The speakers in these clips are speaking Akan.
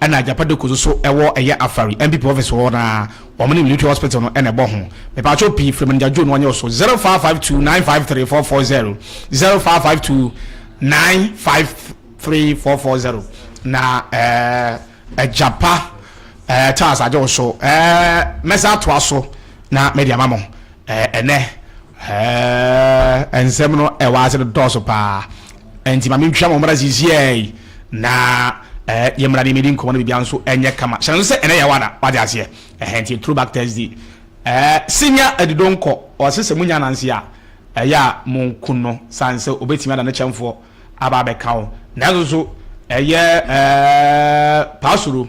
Ɛna agyapade koso so ɛwɔ ɛyɛ afari NPP office hɔ na wɔn ne military hospital no ɛna ɛbɔ ho mepatwo pii firi manager Joe no ɔnyɛ so zero five five two nine five three four four zero zero five five two nine five three four four zero na ɛɛ agyapa ɛɛ tas agye wo so ɛɛ mɛsa atoa so na mɛde ama mo ɛɛ ɛnɛ Ɛɛ, nsɛm no a ɛwɔ ase no dɔɔso paa. Enti ma mentwam wo mmra seesei, na ɛɛ yɛmmra na yemmedi nkɔmmɔ na biribiara nso nyɛ kama. Hyɛ no nso sɛ ɛnnɛ yɛ wo ada. Woate aseɛ? Ɛhɛn, nti Throwback Thursday. Ɛɛ, Senior Adidonkɔ, ɔse sɛ monya ananse a, ɛyɛ a monku no, sane sɛ ɔbɛtumi ada ne kyɛmfoɔ aba abɛka wo. Nanso nso, ɛyɛ ɛɛ Paasuro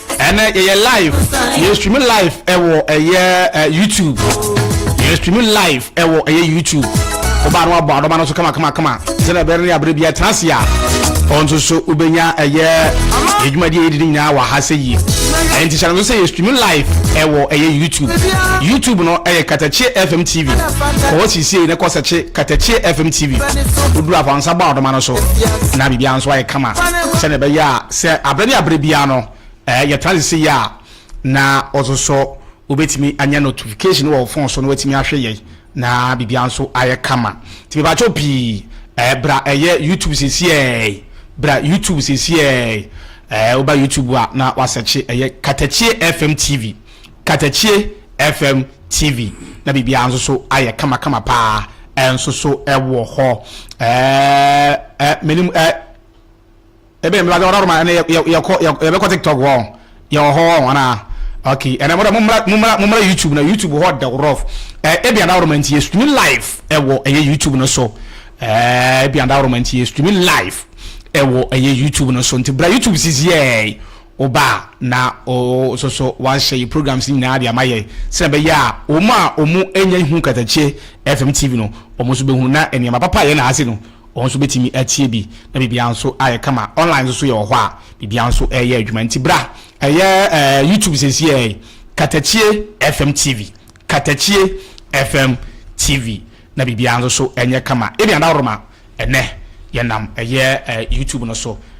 ɛnɛ yɛyɛ live yɛ stream live ɛwɔ ɛyɛ ɛ youtube yɛ stream live ɛwɔ ɛyɛ youtube ɔbaa no abɔ adɔba no so kama kama kama sɛnɛ ɛbɛrɛ ne abere bi ɛtena ase a ɔn nso so wobɛnya ɛyɛ adwumadi a yɛdi ne nyinaa wɔ ha sɛ yie ɛnti hyɛ no so sɛ yɛ stream live ɛwɔ ɛyɛ youtube youtube no ɛyɛ katakye fm tv kɔɔ sisie ne kɔsɛkye katakye fm tv woduru afɔnsa bɔ adɔma no so na biribiara nso ayɛ kama sɛnɛ ɛbɛyɛ a Sɛ aberɛ ne aberɛ biara no yɛtra ne se yi a na wososɔ wobɛtumi anya notification wɔ wo phone so na watumi ahwɛ yɛn na biribiara nso ayɛ kama nti mepakyɛw pii bra ɛyɛ YouTube sesi ɛɛi bra YouTube sesi ɛɛi woba YouTube a na wasɛkye ɛyɛ Katakye FM TV Katakye FM TV na biribiara nso so ayɛ kama kama paa ɛnso so ɛwɔ hɔ ɛɛ menim ɛɛ Ebe yɛ mebadze ɔdɔdoma ɛne yɛ yɛ yɛkɔ yɛ yɛbɛkɔ tiktok hɔ yɛwɔ hɔ hɔ anaa okay ɛnɛ mo dɛ mo mmra mo mmra mo mmra youtube na youtube hɔ dɛw rough ɛɛ ebi adawroma nti yɛ streaming live ɛwɔ ɛyɛ youtube no so ɛɛ ebi adawroma nti yɛ streaming live ɛwɔ ɛyɛ youtube no so nti bra youtube sisi ɛɛ oba na o soso wahyɛ yɛ programs nyinaa de ama yɛ sɛ ɛbɛyɛ a wɔn a wɔn anya hu katakyie fm tv no wɔn nso bɛhu na nneɛma papa yɛ na ase no Wɔn nso bɛtumi atie bi na biribiara nso ayɛ kama. Online nso so yɛ wɔ hɔ a biribiara nso reyɛ adwuma. Nti bra, ɛyɛ ɛɛ YouTube seesei yi, Katakyie FM TV, Katakyie FM TV na biribiara nso so nyɛ kama. Ebian Dawuroma, ɛnnɛ yɛnam ɛyɛ ɛɛ YouTube no so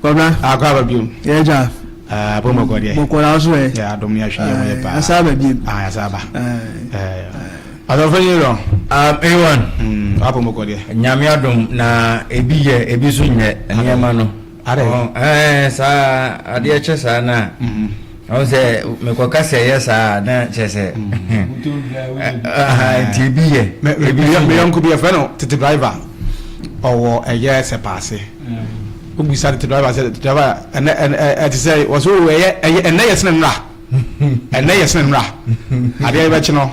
Kwabena. Akɔ aba biom. Yɛ gya. Ɛɛ abom ɔkɔ deɛ. Bɔkɔ na aso ɛ. Yɛ adom yɛ ahwɛ yɛ ho yɛ paa. Asa aba biom. Ah yɛ asa aba. Ɛɛ. Ɔsɔfo nyi rɔ. Um ewan. Mm abom ɔkɔ deɛ. Nyame adom na ebi yɛ ebi nso nyɛ nneɛma no. Adɛ. Ɛɛ saa adeɛ kyɛ saa na. Mm. Ɔn sɛ mekɔka sɛ ɛyɛ saa a na kyerɛ sɛ nti ebi yɛ ebi yɛ. Meyɔnko bi yɛfrɛ no tete driver ɔwɔ ɛyɛ sɛ paase wobisa tete driver sɛ tete driver ɛnɛ ɛte sɛ wɔsɛ ɛyɛ ɛnɛ yɛ sene nnora ɛnɛ yɛ sene nnora adeɛ yɛbɛkye no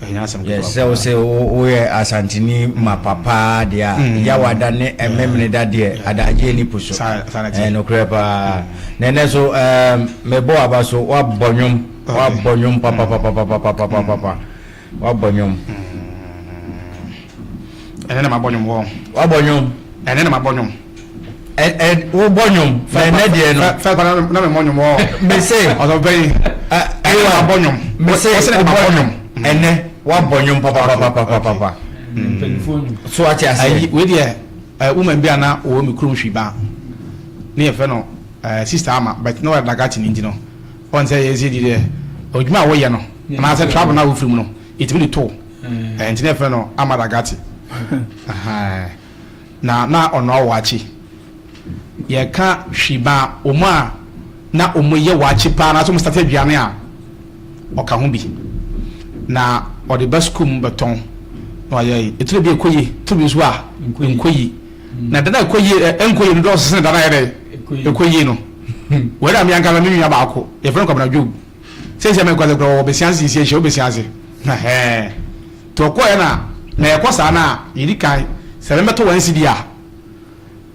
Yɛsrɛ wo sɛ woyɛ Asanteni mapa paa deɛ a, Yawada ne Memeneda deɛ adaagye ani po so. Ɛɛ nokorɛ paa. Na ɛnɛ so ɛɛm mebɔ w'aba so, woabɔ nnwom, woabɔ nnwom papapapapapapapapa, woabɔ nnwom. Ɛnɛ na mabɔ nnwom wɔɔ. Woabɔ nnwom. Ɛnɛ na mabɔ nnwom. ɛ wobɔ nnwom na ɛnɛ deɛ no fɛ kɔ na memmɔ nnwom ɔ mese ɔsɔpɛyi ɛyɛ abɔ nnwom mese wobɔ nnwom ɛnɛ woabɔ nnwom papapapapapa so ate aseɛ wei deɛ woman bi a na wɔwɔ me kurom hwi ba ne yɛfrɛ no sister ama but na wɔyɛ dagate no nti no ɔn sɛ yɛn sɛ di deɛ ɔdwuma a wɔyɛ no anaasɛ travel no a wofiri mu no ɛtumi de to nti na yɛfrɛ no ama dagate Na na ɔnoa waakye. Yɛka hwi ba wɔn a na wɔyɛ waakye paa anaasɛ wɔstate aduane a, ɔka ho bi. Na ɔde ba sukuu mu bɛtɔn na wayɛ yi. Etire bi ɛkɔ yie, tire bi nso a ɛnkɔ yie. Na da no a ɛkɔ yie ɛ ɛnkɔ yie no dɔɔso sene da no a ɛyɛ dɛ ɛkɔ yie no. Wei na me ankasa me nua baako, yɛfrɛ no Kwabena Job. Seisei mekɔ dze korɔ wɔ basia nsinsi ehyia wo basia dze hɛhɛɛ ntsi ɔkɔɔɛ na mɛɛkɔ saa na yedi kan sɛ mɛbɛtɔ one cedi a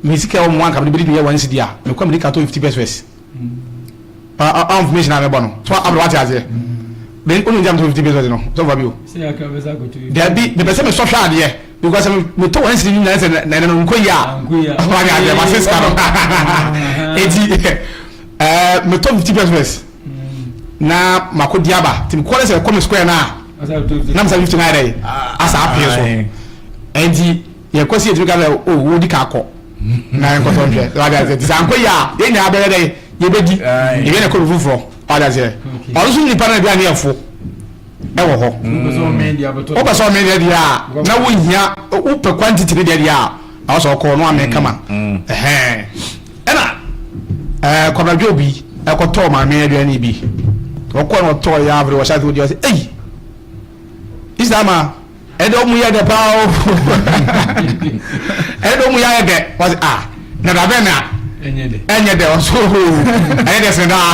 me sika ɔwɔ mo hɔ anka mede bedi dwuma one cedi a mekɔ a medi kan tɔ fifty pɛswɛs ɔɔ information a mebɔ no so abrɛ wate aseɛ me ɔno nti a metɔ fifty pɛswɛs no sɛ ɔfa bi o dabi mepɛ sɛ mesɔ hwɛ adeɛ because sɛ metɔ one cedi nyinaa sɛ na ɛnɛ no nkɔ yie a ɔwɔ ade adeɛ ma se sika no eti. Ɛɛ metɔ fifty pɛs pɛs na mako di aba ti kɔ ne sɛ kɔ me square na na mesa fifty naira yi asa apee so ɛnti yɛ kɔ si yɛ tumi ka sɛ o wo di ka akɔ na yɛ nkɔtɔ nhwɛ wade aseɛ ti sɛ ankɔ yi a yɛ nyinaa bɛyɛ dɛ yɛ bɛ di yɛ bɛ na kɔ bi foforɔ wade aseɛ ɔno nso nipa na aduane yɛ fo ɛwɔ hɔ wopɛ sɛ ɔmee deɛ deɛ a na wohia wopɛ quantity ne deɛ deɛ a na wɔsɛ ɔkɔɔ no amee kama ɛhɛn Ɛna ɛɛ Kwabena Dwob yi ɛkɔtɔɔ maame aduane bi. Ɔkɔɔ na ɔtɔɔ yɛ avere wɔhyɛ ase odi ɔsɛ ei Isla ma ɛdɛ ɔmu yɛ dɛ paa o ɛdɛ ɔmu yɛ ayɛ dɛ ɔsɛ a na dabɛ na ɛnyɛ dɛ ɔsɛ o ɛyɛ dɛ sɛ daa.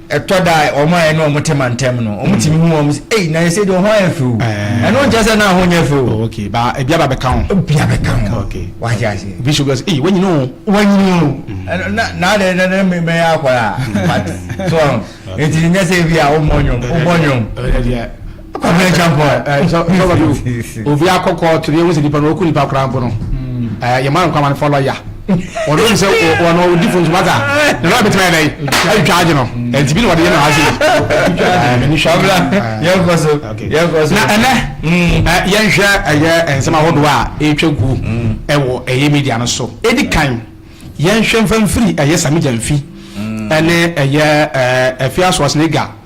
ɛtɔ da a wɔn a yɛne wɔn te mantam no wɔn tumi hu wɔn sɛ ei na ɛsɛ de wɔn ho ayɛ few eh. ɛno nkyɛ sɛ na ho nyɛ few. Oh, okay ba ebi aba bɛka ho. ebi aba bɛka ho okay wate ase. obi so gbɛs ee wanyini o. wanyini o mm. na na de na na mɛ yɛ akɔla but so eti n yɛ sɛ ebi a o mɔ nyom o bɔ nyom. obi akɔ kɔɔto no yɛhu sɛ nipa no ɔku nipa koraa mpo no yɛma no nkwama no fɔ lɔya ɔno nim sɛ ɔno ɔdi fo nsoma ta na lɔya bɛtumi ayɛ dɛn atwitwa agye no ɛnti bi na ɔde yɛ no ase na ɛnɛ yɛnhwɛ ɛyɛ nsɛm ahodoɔ a ɛtwa gu ɛwɔ ɛyɛ media no so ɛdi kan yɛnhwɛ mfa mfiri ɛyɛ samigya mfi ɛne ɛyɛ ɛfi asoɔsene ga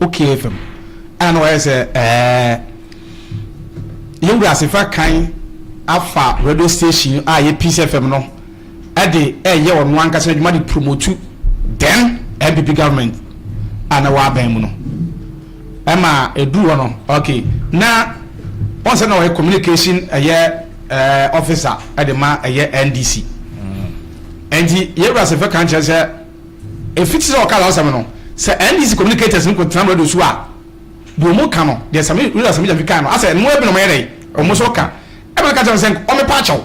Okeeɛ fam ɛna na wayɛ sɛ ɛɛ yɛn wura ase fa kan afa radio station a yɛ peace fm no ɛde ɛyɛ ɔno ankasa adwuma de promotu then npp government a na wabɛn mu no ɛma ɛduru hɔ no ok na wɔn sɛ na ɔyɛ communication ɛyɛ ɛɛ officer ɛde ma ɛyɛ ndc ɛnti yɛ wura ase fa kan kyerɛ sɛ Efi ti sɛ ɔkaa saa asɛm no, sɛ NDC communicators no kɔtenam radio so a, deɛ wɔn ka no, deɛ Sami, William Sami Gyamfi kae no, asɛ ɛno ɛbi na wɔyɛ dɛn? Wɔn nso ka. Ɛma no ka kyerɛ no sɛ nka ɔmɛpa akyɛ wo.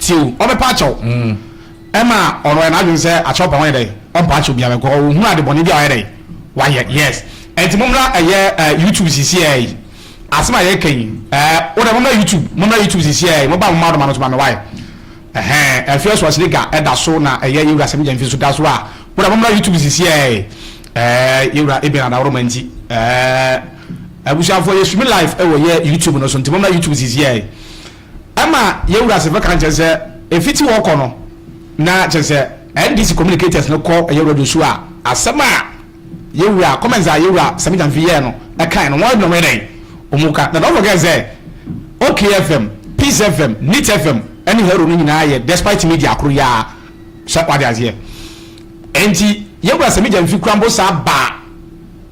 Tie o, ɔmɛpa akyɛ wo. Ɛma ɔno ɛyɛ n'adwene sɛ akyɛ ɔpɛ a wɔnyɛ dɛn? Ɔmpa akyɛ obiara because ɔhunu ade bɔne bi a wɔayɛ dɛn? Wɔayɛ. Yes. Ɛnti mommra ɛyɛ ɛɛ YouTube sisiaa yi. Asɛm a yɛreka yi, ɛɛ, wo deɛ mommra YouTube, mommra YouTube sisiaa yi, mobaa mo mma ɔdoma no nso ma me, why? Ɛhɛɛ ɛfeɛ so asiliga ɛda so na ɛyɛ yɛwura sɛmi gyamfi nso da so a bro mommra youtube sisi ɛɛɛ ɛɛ yɛwura Eben Adaworoma nti ɛɛɛ abusuafoɔ yɛ streami live ɛwɔ yɛ youtube no so nti mommra youtube sisi ɛɛɛ ɛma yɛwura sɛfɛ kan kyɛ sɛ ɛfiti hɔ kɔ no na kyɛ sɛ NDC communicators no kɔ ɛyɛ radio so a asɛm a Yewura, comments a Yewura Sammy Gyamfi yɛɛ no ɛkae no, wɔn nnome dɛn? Wɔn ka, na don't forget sɛ, OK FM, Peace FM, Nit FM ne Hero no nyinaa yɛ Despite Media koro yi ara, sɛ wate aseɛ. Enti Yewura Sammy Gyamfi kura mpo saa baa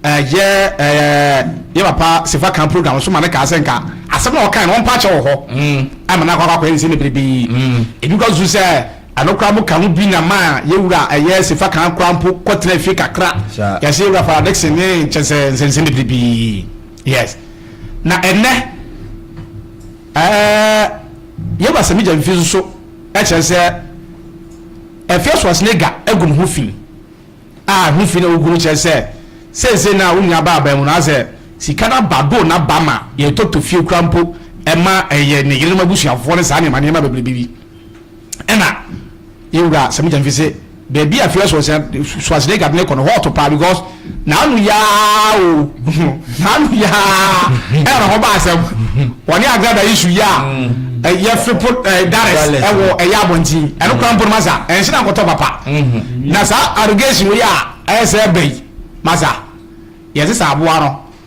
ɛyɛ ɛɛ yɛn papa Sefakan program so ma no kaa sɛ nka asɛm no a ɔkae no ɔmpa akyɛ wɔ hɔ, ama no akɔ akɔyɛ ne nsɛm bebrebe yi. Ebi kɔso so sɛ Ɛno koraa mo ka ho bi na maa yɛn wura a ɛyɛ Sefa Khan koraa mpo kɔ tenaa fie kakra. Yɛse yɛn wura Farah Dickson ne kyɛ sɛ nsɛnsɛm bebree bi. Yes. Na ɛnnɛ ɛɛ yɛn wura Samija mfi nso so ɛkyerɛ sɛ ɛfeɛ so asene ga agu ne ho fi a ɛho fi na ogu no kyerɛ sɛ sɛnsɛn na onua ba aban mu no asɛ sika na ba do na ba ma yɛtɔ tɔ fie koraa mpo ɛma ɛyɛ ne yerenom abusuafoɔ ne saa nneɛma nneɛma bebree bi. Ɛna yɛn wura Samita Mfi se, baabi a Fia Schwarzenegger de no kɔ no, hɔ ɔto paa because n'ano yɛ ara o, n'ano yɛ ara ɛna ne ho ba asɛm. Wɔne Agrada yi su yɛ a, eh, yɛfe po eh, Dallas ɛwɔ eh, ɛyɛ abɔnten. Ɛno koraa mpo no masa, ɛnhyɛ na nkɔtɔ papa. Na saa allegation wei a ɛyɛ sɛ ɛbɛn masa, yɛn sesa aboa no.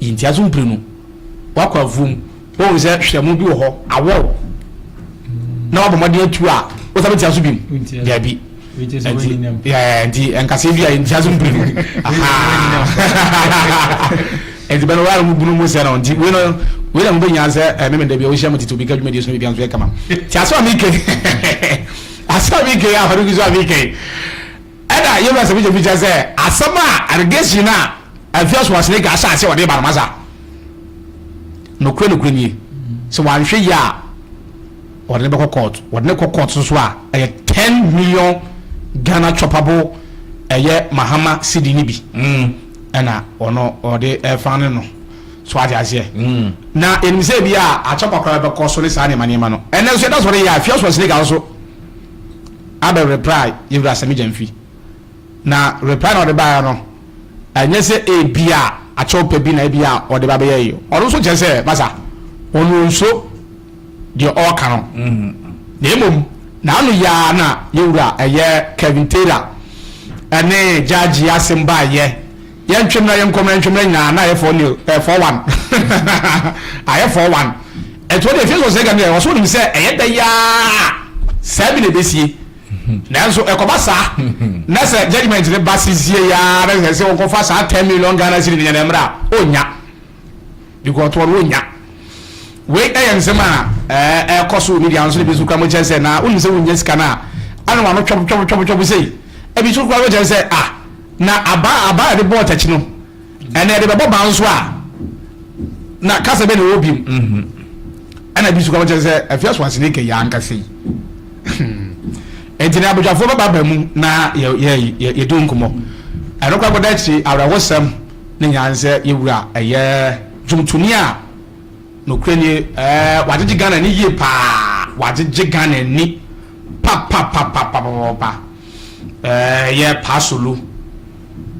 Yi nteaso mprenu. Woakɔ afuom. Woahu sɛ hwerɛmo bi wɔ hɔ, awɔw, na woabɔ mmɔden atu a, wosan bɛtia so bio? Dabi. Nti nkasɛɛ bi a ntia so mprenu. Nti bɛn woara mu bunu mu sɛ no. Nti wei no, wei na mobɛnya sɛ eh, meme da bi a wohyia mo tete obi ka dwumadie so no biribi anso yɛ kama. Nti asɛm a mekɛi, asɛm a mekɛi a, Farouk so a mekɛi. Ɛna yɛbɛsɛ bikyɛbikyɛ sɛ asɛm a Argesi no a Alfias Wasnega ahyɛ aseɛ ɔde ba no masa. Nokorɛ nokorɛ nie, sɛ wanhwɛ yie a wɔde no bɛkɔ court. Wɔde no kɔ court nso a ɛyɛ ten million Ghana choppable ɛyɛ Mahama cedi no bi ɛna ɔno ɔde ɛfa no no. So wate aseɛ? Na yɛnim sɛ ebia akyɛ kwakoraa bɛkɔ so ne saa nneɛma nneɛma no. Ɛnnɛ nso yɛda so reyɛ a Alfias Wasnega nso. abɛ reply Yewura Sammy Gyamfi. Na reply na ɔde baeɛ no, ɛnyɛ sɛ ebia akyɛwpɛ bi na ebia ɔde ba bɛyɛ yi. Ɔno nso kyerɛ sɛ, masa, ɔno ɔnsuo deɛ ɔreka no. Na mmom, n'ano yi ara na Yewura ɛyɛ Kevin Taylor ɛne Gyagye asɛm baeɛ. Yɛntwe mmra yɛnkɔ mmra yɛntwe mmra nyinaa na ayɛ fɔɔ nio ɛɛ fɔɔ wan ayɛ fɔɔ wan ɛtoɔ deɛ efie sɔsɛɛ gane ɛwɔ so wonim sɛ ɛyɛ dɛ yi aa saa bi na ɛbɛsie nanso ɛkɔba saa na sɛ judgement no ba sesie yi aa na sɛ sɛ wɔnkɔfa saa ten million Ghana cedi no nyɛ dɛ mmra ɔnnya Because wɔn wɔnya. Wei yɛ nsɛm a ɛkɔ so wɔ media nso ebi nso kura mo kyerɛ sɛ na wonim sɛ wonya sika no a ana wɔn ano twɔbo twɔbo twɔbo twɔbo sei ebi nso kura mo kyerɛ sɛ ah na aba aba a yɛde bɔɔ takyi no ɛnna yɛde bɛbɔ ban nso a na kasa bɛ na ɛwɔ bi mu ɛnna ebi nso kura mo kyerɛ sɛ afia so asene kɛ yɛ ankasa yi nti na abadwafoɔ bɛba ba mu na yɛ yɛ yɛ yɛ di nkɔmɔ ɛno kura kɔda akyiri awerɛhosɛm. ne nyanzɛ yɛ wura ɛyɛɛ dwomtoni a nokorɛ nie ɛɛ wagyegye Ghana ani yie paa wagyegye Ghana ani papapapapapapa ɛɛ yɛ Paasolu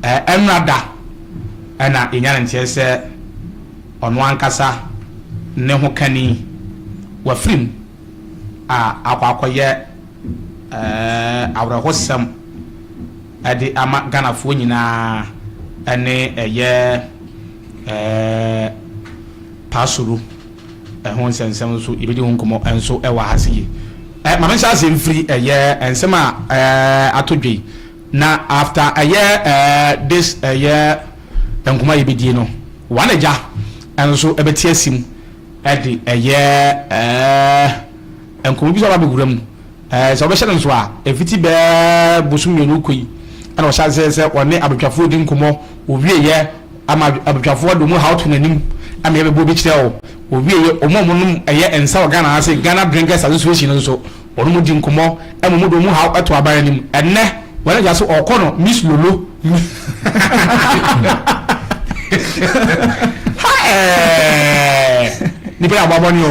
ɛɛ ɛmmra da ɛna yɛnya no nteɛ sɛ ɔno ankasa ne ho kani wafiri mu a akɔ akɔyɛ ɛɛ awerɛhosɛm. de ama Ghanafoɔ nyinaa ne ɛyɛ Paasuru ho nsɛnsɛm nso yɛbɛdi ho nkɔmmɔ nso wɔ ha se yei. Ma me nhyɛ aseɛ mfiri ɛyɛ nsɛm a ato dwa yi na after ɛyɛ this ɛyɛ nkɔmmɔ a yɛbɛdie no One Agya nso bɛte asim de ɛyɛ nkɔmmɔ bi nso aba abɛwura mu. Sɛ wɔbɛhyɛ no nso a, mfiti bɛyɛ bosoom mmienu rekɔ yi na ɔhyɛ aseɛ sɛ ɔne abadwafoɔ redi nkɔmmɔ. Ɔwieɛ ama abadwafoɔ de wɔn haw to n'anim ma yɛbɛbɔ bi kyerɛ wo. Ɔwieɛ wɔn a wɔnom ɛyɛ nsa wɔ Ghana ha sei, Ghana Drinkers Association no nso, wɔnom di nkɔmmɔ ma wɔn de wɔn haw to aban anim. Ɛnnɛ, wɔn agya so ɔɔkɔ no Miss Lolo. Ha ɛɛɛɛɛ! Nnipa yi abɔ abɔne o.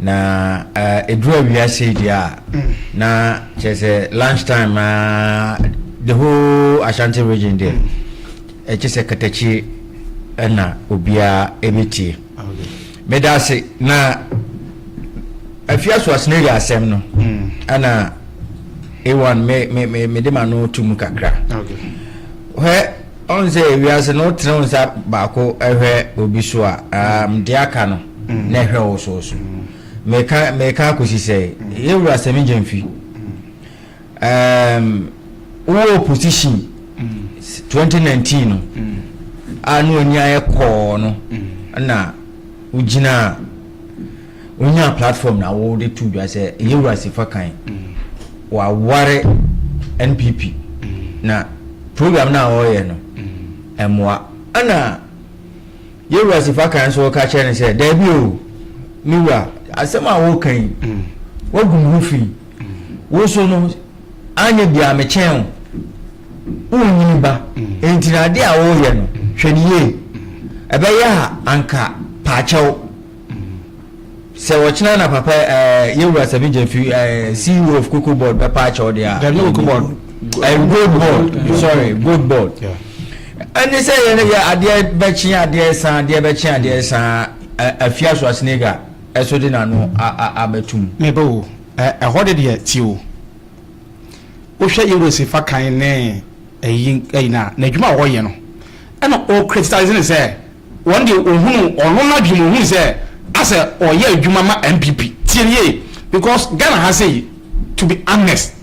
Na ɛduru awiase yi deɛ a, na kyerɛ sɛ lunch time a the whole Ashanti region deɛ ɛkyɛ sɛ katakyi na obiara ɛbɛtie. Meda ase na afiaso aseneri asɛm no ɛna A1 mede ma no to mu kakra. Hwɛ Ɔn sɛ wiase no wotene wo nsa baako hwɛ obi so a um, deɛ aka no na ɛhwɛ wo so so. Meka meka akɔsi sɛ yɛwura Semi Gyamfi um, wowɔ opposition 2019 no a na w'ani ayɛ kɔɔ no na wogyinaa Wonyaa platform na wode to dwa sɛ ɛyɛ wurasi fa kan. Waware NPP na program no a ɔreyɛ no ɛmmoa. Ɛna yɛ wurasi fa kan nso ka kyerɛ no sɛ daabi o me wura asɛm a woreka yi wagu me ho fi. Wo so no anyɛ biara mekyɛn wo. Wonyini ba enti no adeɛ a woreyɛ no hwɛ no yie. Ɛbɛyɛ a anka paakyɛw. Sɛ ɔkyena na papa eh, yɛwura Seven Gyamfi eh, CEO of Cocoa Board bɛpa akyɛ wo deɛ a. Dabi Cocoa Board. Eh, gold Board, sorry, Gold Board. Ɛne sɛ yɛn yɛ adeɛ bɛkye adeɛ san, adeɛ bɛkye adeɛ san, afia Schwarzenegger ɛso de n'ano abɛtum. Meba o, ɛhɔ de deɛ ti o. Wohwɛ yɛwura Sefa kan ne ɛyi ɛyi na, n'adwuma a ɔyɛ no. Ɛna ɔcriticize no sɛ wɔn deɛ ɔhunuu ɔno n'adwene mu ɔhunuu sɛ asɛ ɔyɛ adwuma ma NPP. Tie no yie because Ghana ha sei to be honest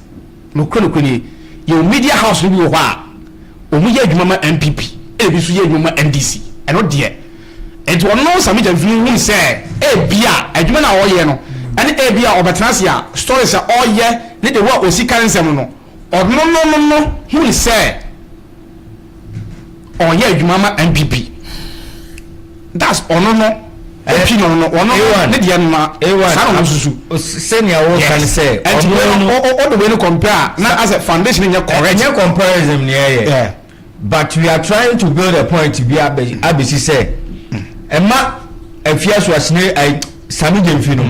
nokorɛ nokorɛ nie yɛwɔ media house no bi wɔ hɔ a wɔn yɛ adwuma ma NPP ɛna ebi nso yɛ adwuma ma NDC ɛno deɛ nti ɔno Sammy Gyamfin hunu sɛ ebia adwuma no a ɔyɛ no ɛne ebia ɔbɛtena ase a stories a ɔyɛ ne the way a ɔsi ka ne nsɛm no no Ɔnonom no hui sɛ ɔyɛ adwuma ma NPP. That's ɔno no opi no no ɔno ne deɛ no na saa na ɔmo susu. Sɛnea wɔka ne sɛ ɔno no. Ɔde wei no compare a na asɛ foundation no nyɛ correct. Ɛnyɛ comparison na ɛyɛ. But we are trying to build a point bi abesi sɛ ɛma Afiaso Asenegya ai Sami Gyamfi no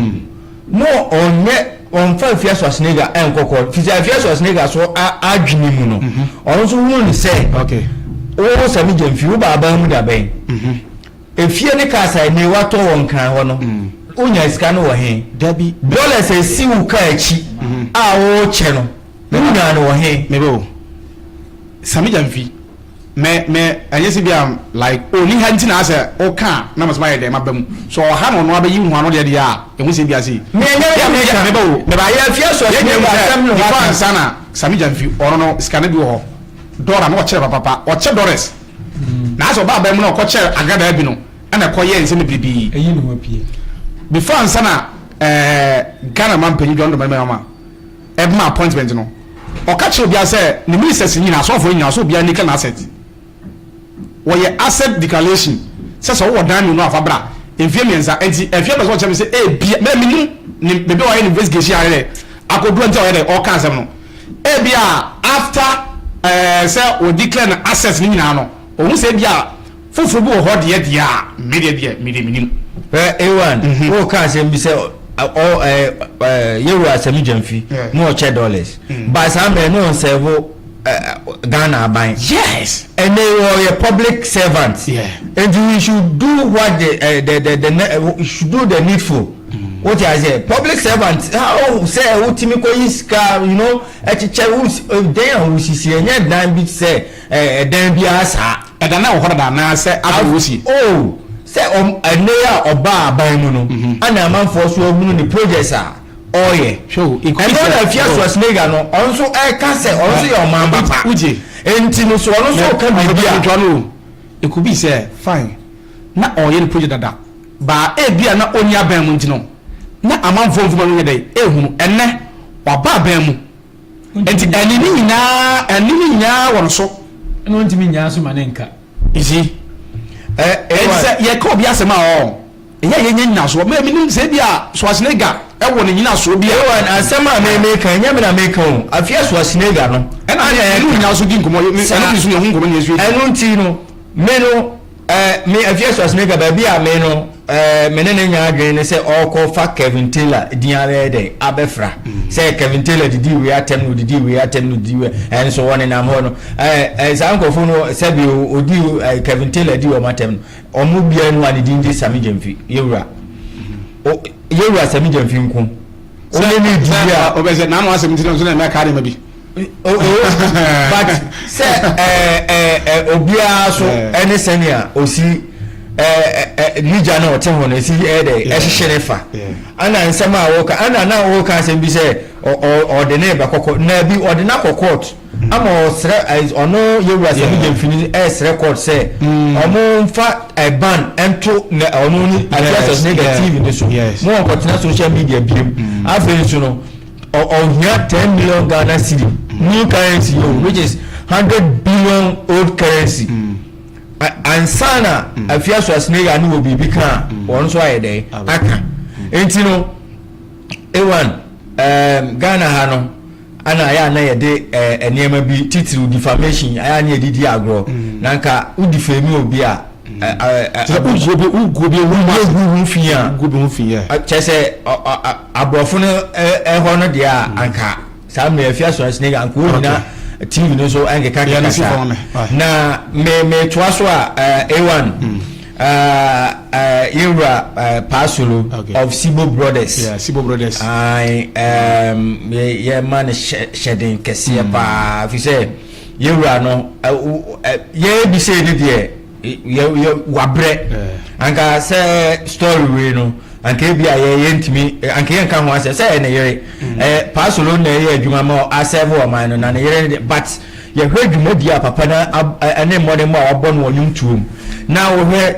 no ɔnyɛ ɔmfa Afiaso Asenegya ɛnkɔ kɔɔ fi sɛ Afiaso Asenegya so adwene mu no ɔno nso hunu ne sɛ wo Sami Gyamfi wo baabaa mu da bɛn efie ne cars a ɛnɛ watɔ wɔ nkran hɔ no wonya sika no wɔ he dollars a ɛsi wo kaa akyi a wokyɛ no wonya no wɔ he Sa me gya mfi me me ɛnyɛ sɛ bia like ɔnni ha nti na asɛ woka a na mesɛ mayɛ dɛn maba mu so ɔwɔ ha na ɔno abɛyi nhu ano deɛ deɛ a ɛhu sɛ bia sei Me ɛnyɛ me na me ka meba o meba yɛ afie aso yɛn nyina hu sɛ before ansa na sa me gya mfi ɔno no sika no bi wɔ hɔ Dora na ɔkyɛ papapa ɔkyɛ Doris na asɛ ɔba aban mu na ɔkɔ kyɛ Agradaa bi no ɛna ɛkɔ yɛ nsɛm bebrebe before ansa na ɛɛ Ghana man panyin John Domani Mahama ɛma appointment no, ɔka kyerɛ obiara sɛ ne ministers no nyinaa, asɔɔfoɔ no nyinaa, sɛ obiara nika n'asset. Wɔyɛ asset declaration sɛ sɛ wowɔ dan mmienu a fa bra. Mfeɛ mmiɛnsa, ɛnti ɛfeɛ bɛsɛ ɔkyerɛ me sɛ ebia, mɛ menim ne baabi a ɔyɛ ne investigation ayɛ dɛ akɔduru ɛnti a ɔyɛ dɛ ɔɔka asɛm no. Ebia after ɛɛ sɛ wɔ declare no assets no nyinaa no, ɔhu sɛ ebia. Foforɔ bi wɔ hɔ deɛ deɛ a, me deɛ deɛ, me deɛ menim. Hwɛ A1, wo ka asɛm bi sɛ ɔ ɛɛ ɛɛ Yɛwura Asami Gyamfi na ɔkyɛ dollars. But saa mmerɛ no na ɔnsɛvo ɛ Ghana aban. Yes! Ɛnɛ yi ɔyɛ public servant. Yeah. Nti he should do what the ɛ the the the ne he should do the needful. Wote aseɛ? Public servant how sɛ wotumi kɔyi sika you know ɛkyekyɛ wo si dɛn a wosisi ɛnyɛ dan bi sɛ. Ɛɛ, dan biara saa. Ɛda no a ɛwɔ hɔ dada anaasɛ afei na wɔsi? Oh, sɛ ɔm, ɛnnɛ yi a ɔbaa aban mu no, ɛna amanfoɔ nso ahunu ne projects a ɔreyɛ. Hwɛ o, it could be said. Ɛno na Afia Schwarzenegger no, ɔno nso reka sɛ ɔno nso yɛ ɔman ba pa. Wogye? Enti no, so ɔno nso reka biribi a. Ɔbɛka ntoa no o. It could be sɛ, fine, na ɔreyɛ ne project dada, baa ebia na ɔnni aban mu nti no, na amanfoɔ mframa no nyɛ dɛn? Ɛrehunu. Ɛnnɛ, waba aban mu. Enti ɛne ne nyinaa, ɛne ne nyinaa wɔ no so. Ɛna ɔntumi nnyaa so ma ne nka. You see? Ɛ ɛnti sɛ yɛka obi asɛm a ɔɔ, ɛyɛ a yɛnya nyinasoɔ. Me menim sɛ ebia Schwarzenegger ɛwɔ ne nyinasoɔ bi a. Ewan, asɛm a me meka, ɛnyɛ me na meka o, afia Schwarzenegger no. Ɛna me ne wo nyina so di nkɔmmɔ, me ɛno nti so yɛho nkɔmmɔ na yɛsua bi. Ɛno nti no, me no, Eh, me Ephesus ne ka baabi a me no eh, me ne ne nya adwene ne sɛ ɔrekɔfa Kevin Taylor din abɛyɛ dɛn abɛfra mm. sɛ Kevin Taylor didi wei atɛm no didi wei atɛm no didi wei ɛnso wɔn nenam hɔ no ɛɛ eh, eh, saa nkurɔfoɔ no sɛbi odi ɛɛ Kevin Taylor di wɔn atɛm no wɔn biara no a ne din de Sami Gyamfi yewura mm. yewura Sami Gyamfi nko wɔn ne ne di bi a ɔbɛsɛ n'ano asɛm ti na nso na ɛmɛ kaa ne ma bi. Oh, oh, but sɛ ɛɛ ɛɛ obiara so ɛne sɛnea osi ɛɛ ne gya na ɔte ho no esi ɛyɛ dɛ ɛhyehyɛ ne fa ɛna nsɛm a wɔka ɛna na wɔka asɛm bi sɛ ɔde ne ba kɔkɔ na bi ɔde na kɔ court mm. ama ɔsrɛ ɔno yewura sɛ ne mfini ɛsrɛ court sɛ mm. ɔmo nfa ɛban ɛnto na ɔno ne address ne the tv ne so mo wɔn kɔtena social media biem mm. afei nso no. Ɔhia ten million Ghana cedi new currency o which is hundred billion old currency ansa na afia so asene ya ne wɔ biribi ka a wɔn nso ayɛ dɛ aka nti no ewan Ghana ha no ana ayɛ ana yɛde nneɛma bi titiriw defamation ayɛ ana yɛde di agorɔ na nka wodi fɛmi obi a kyerɛ sɛ aborɔfo no hɔ no deɛ a mm. anka saa mmerɛ afi asorɔnsene yɛ anka ɔnyina tv no so ɛnkeka keka saa na metoa so a a1 mm. yɛwura paasolo of sibo brothers yɛma no hyɛden kɛseɛ mm. paa fi sɛ Yɛn wura no yɛyɛ bi sei no deɛ yɛ wabrɛ anka sɛ story wei no anka ebi a yɛyɛ ntumi anka yɛn ka ho asɛ sɛ yɛ ne yere mm. ɛɛ paasolo na ɛyɛ adwuma ma asɛɛfo ɔman no na ne yere no but yɛhwɛ dwumadi a papa na ɛne mmɔden mu a wabɔ no wɔn nnwom tuom na wɔhwɛ.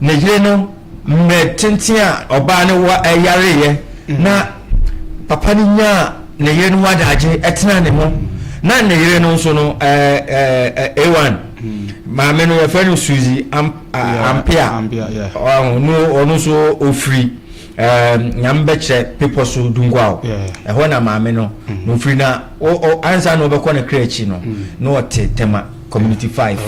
Ne yere no mmerɛ tenten a ɔbaa no wareeɛ na papa no nyaa ne yere no wadaagye ɛtena ne ho na ne yere no nso no A1 maame no yɛfrɛ no Suzy Ampea ɔno nso ɔfiri nyame bɛkyerɛ pepɔ so dunguao ɛhɔ na maame no na ɔfiri na ansa na ɔbɛkɔ ne kra akyi no na ɔte tema community 5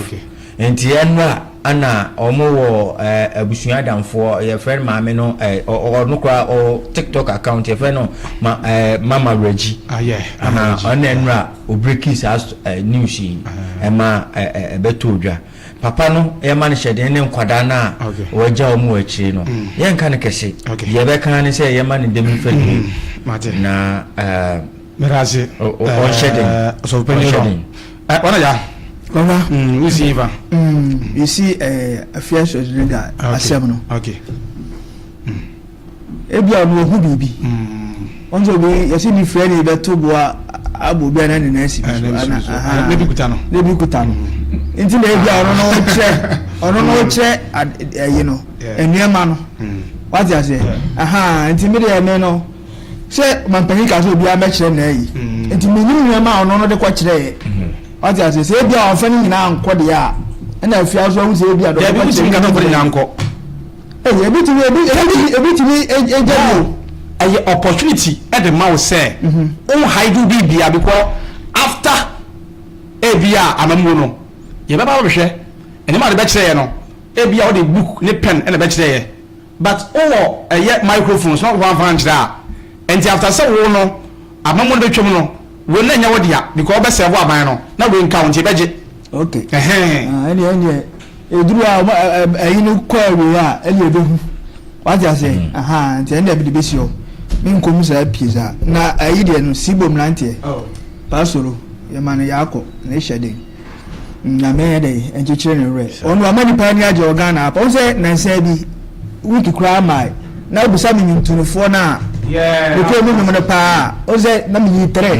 Nti ɛnra na ɔmo wɔ abusua adamfoɔ yɛfrɛ no maame no ɔno koraa ɔwɔ tiktok account yɛfrɛ no ma mama regi aha ɔno na ɛnra obreki saa news yi ɛma ɛbɛtɔ odwa papa no yɛma no hyɛden ne nkwadaa no a wɔagya ɔmo wɔ akyire no yɛnka no kɛse deɛ ɛbɛka ne sɛ yɛma no dɛm fadie na ɛɛ. Meradze. Ɔnhyɛ den. Ɔsɔfo panyin rɔ. Ɔna ya. Papa. Wosi yi fa. Yɛsi afia sɔs ne da asɛm no. Ebi a ɔno ohu biribi. Wɔn sɛ obi yɛsi ni fira ni bɛto boa abo bi a na ne nan si bi so. Ne bi kuta no. Ne bi kuta no. Nti na ebi a ɔno na ɔkyerɛ ɔno na ɔkyerɛ ɛyi no nneɛma no. Wate aseɛ. Nti mi deɛ ɛmɛ no. sɛ mampanyin kaa sɛ obiara mɛkyerɛ na ayi mm. nti menim nneɛma a ɔno no de kɔkyerɛeɛ mm. wate ase sɛ ebi a ɔmfa no nyinaa nkɔ deɛ a ɛna afie aso ahu sɛ ebi a dɔkɔ kyerɛ ɛyɛ ebi tumi ebi tumi ebi tumi egya bi o ɛyɛ opportunity ɛde ma wo sɛ mhm. wo haidu bi bia bi kɔ after ebi a amamuo no yɛbɛba bɛhwɛ ɛnneɛma a de bɛkyerɛ yɛ no ebi a wɔde book ne pen ɛna bɛkyerɛ yɛ. But wowɔ ɛyɛ microphone so na wo anfa ankyerɛ a ɛnti after sɛ wo no amamuo no bɛtwam no wei no ɛnyɛ wo dea because wobɛ serve aban no na wei nka wo nti ɛbɛgye okay ɛhɛn. Ah ɛneɛ ɛneɛ ɛduru a ɔmo ɛyi no kɔ awieɛ a ɛneɛ ɛbɛhu wate aseɛ ahaa nti ɛneɛ mede bɛsi hɔ me nkɔm saa pie saa na ɛyi deɛ no sibom nanteɛ oh. Pastor yɛma no yɛakɔ na ɛhyɛ den. Nyame nyɛ dɛn nkyekyere ne werɛ. Ɔno wama nipa ani agye wɔ Ghana ha pa. Wohu sɛ nansa bi week koraa mae na wobisa me nwontonofoɔ no a mekɔɔ mu nwom no paa a, wohu sɛ na meyi trɛ.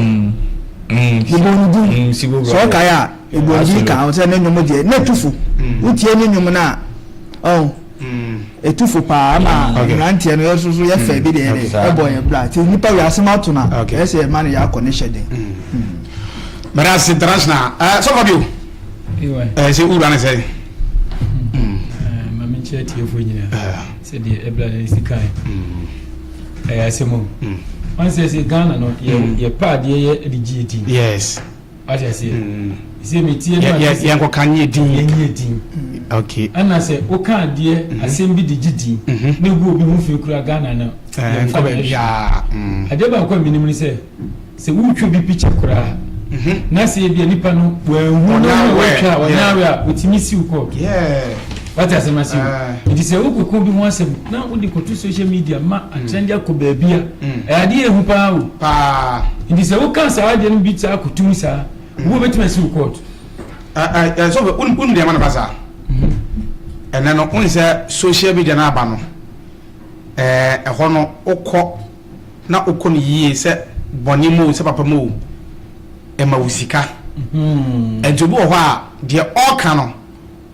Mebɔɔ ne din. Sɛ wokae a, mebɔɔ ne din kaa ho sɛ ne nwom deɛ na ɛtu fo. Wotie ne nwom no a, ɔho. ɛtufo paa ma mmeranteɛ no yɛso so yɛfɛ bi deɛ de ɛbɔ yɛn bra nti nnipa wei asɛm ato no a ɛyɛ sɛ yɛma no yɛ akɔ ne hyɛ den mɛda ase international sɔfɔ bio sɛ wura ne sɛ mamenkyerɛ tiefoɔ nyinaa sɛdeɛ ɛbra no si kae ɛyɛ asɛm o ɔnsɛ sɛ ghana no yɛpɛ adeɛ yɛ de gye ɛdi yes wate aseɛ mm. sɛ metie no yɛnkɔka ne yɛdin yɛnyɛ din mm. okay. ɛna sɛ woka adeɛ mm-hmm. asɛm bi de gye din mm-hmm. ne gu obi ho fi kura ghana no eh, yɛmfa baabiaa mm. adeɛ baako a menim ne sɛ sɛ wotwa bi pikya koraa mm-hmm. na sɛ ebia nipa no wɔahu no na wɔtwa a wɔnyɛ awe a wɔtumi siw kɔ Wate asɛm no ase o. Nti sɛ wokɔka obi ho asɛm na wode kɔto social media ma atrɛnde akɔ baabi a, ɛyɛ adeɛ ɛhu paa o. Nti sɛ woka saa adeɛ no bi saa akɔto mu saa, obi a ɔbɛtumi asi wo kɔɔto. So wonim deɛ ɛma no ba saa? Ɛnɛ no wohu sɛ social media no aba no, ɛhɔ no wokɔ na wokɔ no yie sɛ bɔne mu o, sɛ papa mu o, ɛma wo sika. Nti obi wɔ hɔ a deɛ ɔreka no,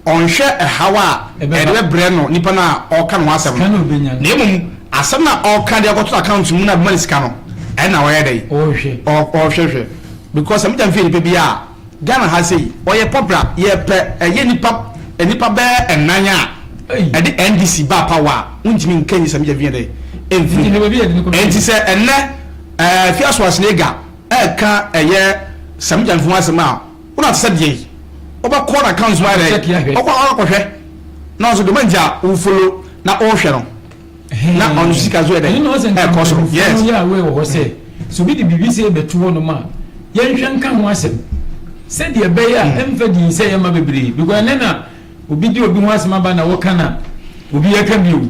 Ɔnhwɛ haw a ɛrebrɛ no nipa no a ɔreka ne ho asɛm no, na mmom asɛm no a ɔreka de akɔto account mu no a ɛbɛma no sika no, ɛno na ɔyɛ dɛn? Ɔhwɛ hwɛ. Because sɛ mogya mfi nipa bi a, Ghana ha sei, ɔyɛ popular, yɛpɛ ɛyɛ nipa nnipa bɛyɛ nnan a ɛde NDC baa power a, wontumi nka nyi sɛ mogya mfi dɛn? Mfiri mu. Enti sɛ ɛnnɛ Afiaso Asnega ɛreka ɛyɛ sɛ mogya mfi ho asɛm a, wona te sɛ deɛ yi wobɛkɔ na account mu ayɛ dɛ ɔkɔ akɔhwɛ na ɔso demand a wo follow na ɔhwɛ no na ɔno so sika so yɛ dɛ ɛkɔ so yes yɛ aware wɔ hɔ sɛ so bi de biribi sɛ ɛbɛtu hɔ nom a yɛnhwɛ nka ho asɛm sɛdeɛ ɛbɛyɛ a ɛmfa din sɛ yɛma bebree because ɛnɛ na obi de obi ho asɛm aba na wɔka na obi yɛka bio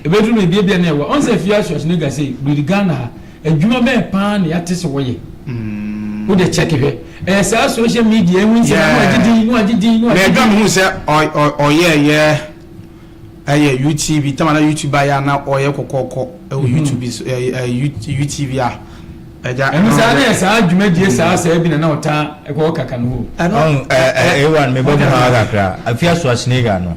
ɛbɛduru no ebiebia na ɛwɔ ɔnsɛ fie asoaso ne ga sɛ biribi Ghana ha Adwuma bɛn paa na yɛate sɛ wɔyɛ? Wode kyɛke hwɛ. Ɛyɛ saa social media yi ho nsɛm na wɔagye din, na wɔagye din, na wɔagye din. Mɛdwa mehu sɛ ɔyɛɛyɛ ɛyɛ UTV, tam a na UTV ayɛ a na ɔyɛ kɔkɔɔkɔ ɛwɔ UTV so, ɛyɛ UTV a. Ɛno saa na ɛyɛ saa dwumadie saa saa bi na na ɔtaa ɛkɔ hɔ kaka no hoo. Ɛno, A1 mebɔ mu ha kakra, Afiaso Asnega no,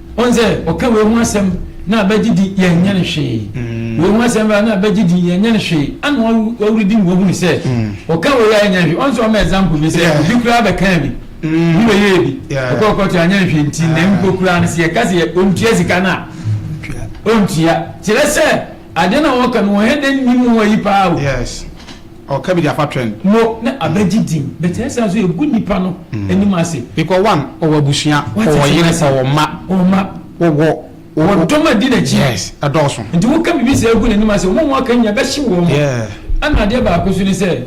Ɔn sɛ ɔka wei ho asɛm na bɛgye di yɛnyɛ no hwee. Wei ho asɛm bɛba na bɛgye di yɛnyɛ no hwee. Ana ɔredi mu wɔhunu sɛ ɔka wei a ɛnyɛ hwee. Ɔn sɛ ɔma example bi sɛ obi koraa bɛkaa bi ne bɛyɛɛ bi ɔkɔɔ kɔɔto a anyɛ hwee nti na mpo koraa no sɛ yɛka sɛ ɔntua sika no a ɔntua. Kyerɛ sɛ ade no a ɔka no ɔhɛ dɛ nnim ho ayi paa o. Ɔka bi de afa twɛn. No na abɛgye din. But ɛyɛ saa nso ɛgu nnipa no anim ase. Because one, ɔwɔ abusua, ɔwɔ yere, ɔwɔ mma. Ɔwɔ mma. Ɔwɔ. Ɔwɔ dɔm a ɛdi n'akyi. Yes, ɛdɔɔso. Nti woka biribi saa gu n'anim ase, wɔn a wɔaka nyinaa ɛbɛhye wɔn. Yeah. Ɛna adeɛ baako nso ne sɛ,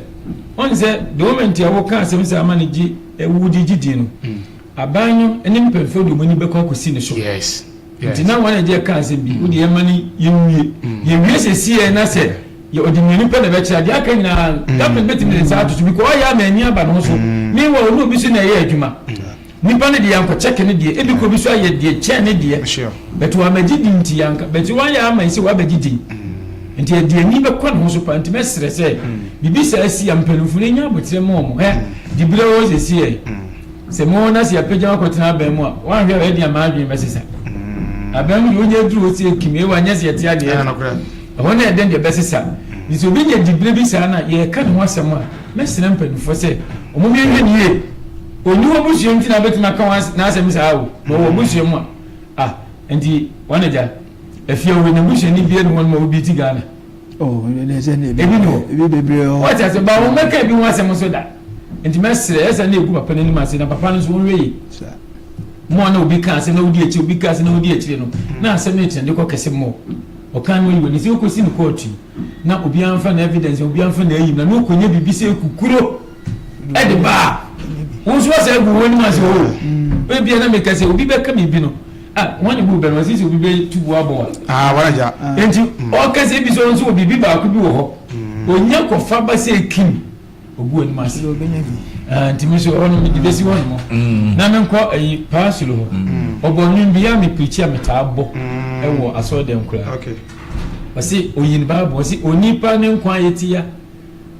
woahu sɛ the moment a woka asɛm saa ma no gye, wode gye din no, aban no ne mpanyinfoɔ de wɔn ani bɛkɔ akɔsi ne so. Yes. Nti na wɔn agye ɛka asɛm bi, wode yɛn ma no yɛnwie. Mm. Yɛwie sɛsieɛ na sɛ yɛ ɔde mmienu pɛ na ɛbɛkyerɛ deɛ aka nyinaa mm. government bɛtumi ne nsa ato so because ɔyɛ ama ani aba ne ho so mm. meanwhile ɔne obi so na ɛyɛ adwuma nipa no deɛ yankɔkyɛke ne deɛ ebi kɔ bi so ayɛ deɛ kyɛn ne deɛ bɛte wamagye din nti yanka bɛte wayɛ ama yi sɛ wabɛgye din nti ɛde ani bɛkɔ ne ho so pa nti mɛserɛ sɛ biribi saa si a mpanimfo no nya abotire ma ɔmo ɛ de berɛ wɔ sɛsieɛ Sɛ mo na sɛ yɛapagya wo akɔtena aban mu a, woanhwɛ a ɛde a m'adwene bɛsesa. Aban mu deɛ wonya aduru hɔ sɛ kim, ewa nyɛ sɛ yɛte adeɛ Ah, adi. nokorɛ. Ɛhɔ na ɛdɛn deɛ ɛbɛsesa. Nti sɛ obi nya diberɛ bi saa na yɛreka ne ho asɛm a, mɛsrɛ mpanimfoɔ sɛ wɔnhwɛ nhwɛ no yie. Ɔnni w'abusua nti na wobɛtumi aka wo as n'asɛm saa o, na ɔwɔ w'abusua mu a. Ah, nti wɔn agya, Afiawu, na busuani biara nni hɔnom a obi te Ghana. Oh, ebi na ɛsɛ ne ebi no ebi bebree hɔ. Wɔte ase ba wɔn mɛka ebi ho asɛm nso da. Nti mɛsrɛ ɛsɛ ne egu papa n'anim ase na papa no nso wɔn wɛyi. Mo a na obi ka asɛm na wodi akyire obi ka asɛm na wodi akyire no na asɛm no tena de kɔ kɛse mo. Ɔkan no yi wɔ ne sɛ okosi ne kɔɔtu yi na obi anfa na evidence obi anfa na eyi na na okonya bibi sɛ ekukuro ɛde baa. Wɔn nso asɛ egu wɔn anim ase o. Ebi na meka sɛ obi bɛka mi bi no. Ah, wɔn ne bu bɛn, wɔn sisi obi bɛ tu bu abɔ wa. Ah, wɔn agya. Enti, ɔka sɛ ebi sɛ ɔnso wɔ biribi baako bi wɔ hɔ. Onya kɔfa ba sɛ kim, ogu anim ase. Sɛ ɔbɛnya bi. Ah, nti mi so ɔno mi de besi hɔ nom. Na mi nkɔ ayi paa soro hɔ. Ɔbɔ nwom bi a mi pirikyi a mi taa bɔ ɛwɔ asɔre dɛm koraa. Ɔsi oyin baabu, ɔsi onipa ne nkwa yɛ ti ya.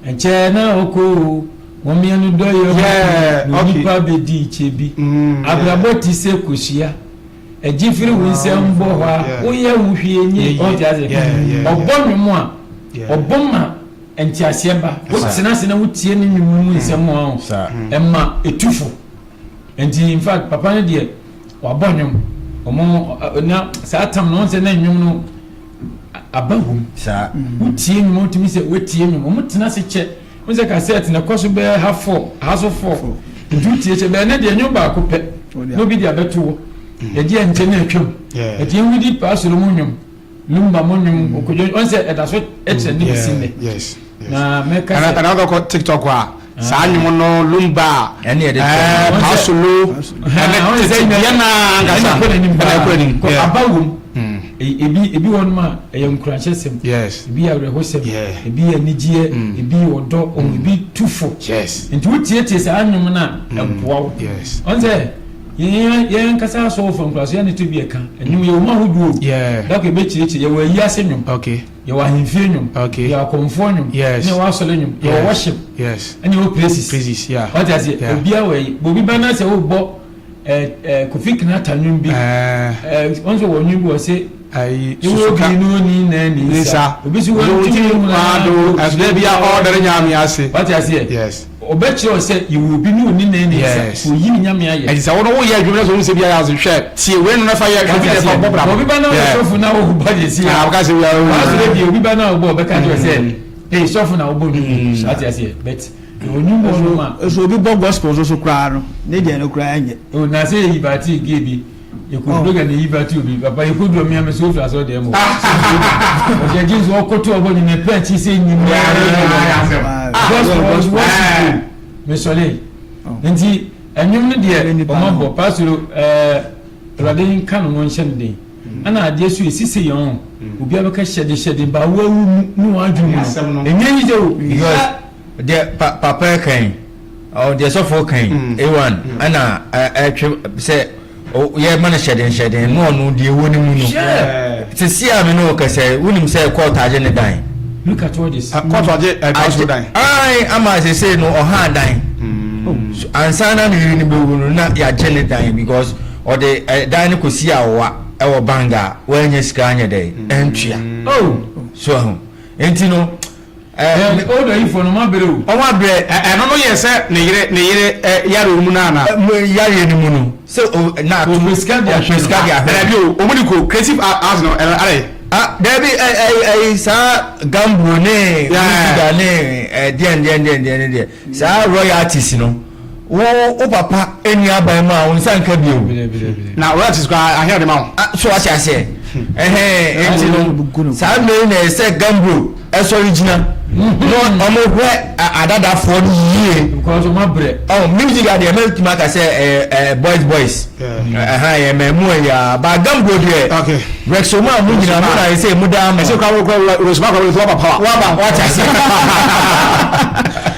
Ɛkyɛ na ɔkɔ o, wɔn mmienu dɔ yɛ ho kunu na onipa bɛdi nkyɛ bi. Abrabɔ te sɛ kosua, ɛgye firi wo nsam bɔ hɔ a woyɛ wo hwee nyɛ yie. Ɔte aseɛ? Ɔbɔ nnwom a, ɔbɔ ma nteaseɛ ba. Wotena ase na wotie ne nnwom no mu nsɛm a, ɛma ɛtu fo. Nti in fact papa no deɛ, wabɔ nnwom. Wɔn na saa tam no, wohu sɛ na nnwom no. aba hum. Saa. Wo tie nwom a wotumi sɛ woatie nwom. Wɔn tena ase kyɛ. Wɔn sɛ kasɛɛt na ɛkɔ so bɛyɛ ha fɔm, ha so fɔm. Nti wotie kyɛ. Bɛyɛ ne deɛ nwom baako pɛ na obi de abɛto hɔ. Yɛgye ɛnkyɛ na atwam. Nti yɛn wudi paasoro mu nwom, lumba mu nwom, okodwo, wɔn sɛ ɛda so kyerɛ ne besi nnɛ. ɛna ɛna ɔkɔ tiktok a saa anwom no lumba paasolo ɛne tete deɛ na ankasa ɛna ɛkɔ anim aba wom hmm. e, ebi ebi wɔn mu a ɛyɛ nkuranhyɛ sɛm ebi yɛ awerɛho sɛm ebi yɛ anigyeɛ hmm. ebi yɛ ɔdɔ ɔmo hmm. ebi tu fo nti wotietie saa anwom no a ɛboa wo ɔn sɛ yɛn kasa asɔwofo nkuraso yɛn ne to bi ɛka ɛnum yɛ wɔn ahodoɔ dako ebekyerɛkyerɛ yɛ wɔ ayi ase nwom. yɛwɔ ahemfie nnwom okay yɛwɔ akɔmfoɔ nnwom yes yɛwɔ asɔre nnwom yes. yɛwɔ worship yes ɛne yɛwɔ praises praises yeah wate ase yeah. obiara wɔ yi bobi bɛn na sɛ wobɔ ɛɛ ɛɛ kofi kinata nnwom bi ɛɛ ɛɛ wɔn sɛ wɔ nnwom bi wɔ se ayi susuka ewo bi no ni na ni nsa obi si wɔn ti mu na do ɛsɛ bi a ɔdɛrɛ nyaame ase wate ase yɛ yes. Ɔbɛkyerɛ wo sɛ yɛwɔ obi ne ɔni nan ne nsa, sɛ ɔyi ne nyame ayɛ. Ɛti sɛ wo no wo yɛ adwuma na sɛ ɔhu sɛ bi ayɛ ase hwɛ tie wei no na fa yɛ hwɛ bi na ɛfa bɔ bra mo. Obi ba na ɔyɛ sɔfo na ɔbɔ ne nsa yi a, w'asɔre deɛ obi ba na ɔbɔ ɔbɛka akyerɛ sɛ ee sɔfo na ɔbɔ no bi so ate aseɛ but ɔnim bɔ no ma. Sɛ obi bɔ gospel nso so koraa no ne deɛ no koraa nyɛ. Oh na sɛ yɛ yi bate gay bi. yɛkɔduro gya ne yiba ti obi papa yɛkɔduro mmea mɛ sɛ wofi asɛ ɔdeɛ mɔ ɔdeɛ gye nso ɔkɔto ɔbɔ ne ne pɛ kyi sɛ nyimyɛwɔsito mesɔle nti ɛnwom no deɛ ɔma bɔ pasoro awurade nka no no nhyɛ no den ɛna adeɛ so ɛsi sɛ yɛn obi abɛka hyɛde hyɛde ba woawu mu ne wɔadwene mu no ɛnyɛ yi sɛ o deɛ papa ɛkan Ɔɔ deɛ sɔfoɔ ka yi, mm. Ewan, mm. ɛna ɛtwe sɛ yɛma no hyɛden hyɛden na ɔno deɛ ɛwɔ ne mu no. Sisi a me ne wo kɛsɛ, wonim sɛ kɔɔto agye ne dan. Look at all this. Kɔɔto agye ɛdan so dan. Ae ama asese no ɔha dan. Mm. Oh. Ansa na ne yiri no bɛwu no na yɛagye ne dan because ɔde ɛdan no kɔsi awowa ɛwɔ banga a wɔanya sika anyɛ dɛ ɛntua. Oh. So ɛho. Nti no. Ɛɛ, me old ayifoɔ no, moabrɛ o. Wɔn abrɛ, ɛ, ɛno no yɛ sɛ ne yere, ne yere, ɛ, yareɛ mu no anaa? Mo yareɛ no mu no, sɛ o, na ato. Ɔpɛ sika de ahwɛ no. Ɔpɛ sika de ahwɛ no. Daabi o, wɔn de kɔ creative a, arts no, ɛ, adɛn? Ah, daabi, ɛ, ɛ, ɛ, ɛ, saa gamboo ne. Yeah. Wusuda ne, ɛ, deɛn, deɛn, deɛn, deɛn no deɛ, saa royalties no. Wo wo papa ɛni aban mu a wo nsa nka bio. Na royalties kwa ahe ɔde ma wo. Ah, so wate aseɛ. Hmm. Ɛhɛn ɛnti no saa mmeri na ɛsɛ gambro ɛsɔre gyina. Na ɔmo hwɛ adadafoɔ no yie. Because ɔmo abrɛ. Ɔ oh, music adeɛ mɛ tuma ka sɛ ɛɛ ɛɛ boys boys. Ɛhɛn yɛ mɛ mu ɛyɛ a ba gambro deɛ. Okay. Rexoma mu nyina mu na ɛsɛ mu daa mu. Ɛsɛ kwa wɔ kwa wɔ resoma kwa wɔ wɔ papa. Wɔ ba wɔ ati aseɛ.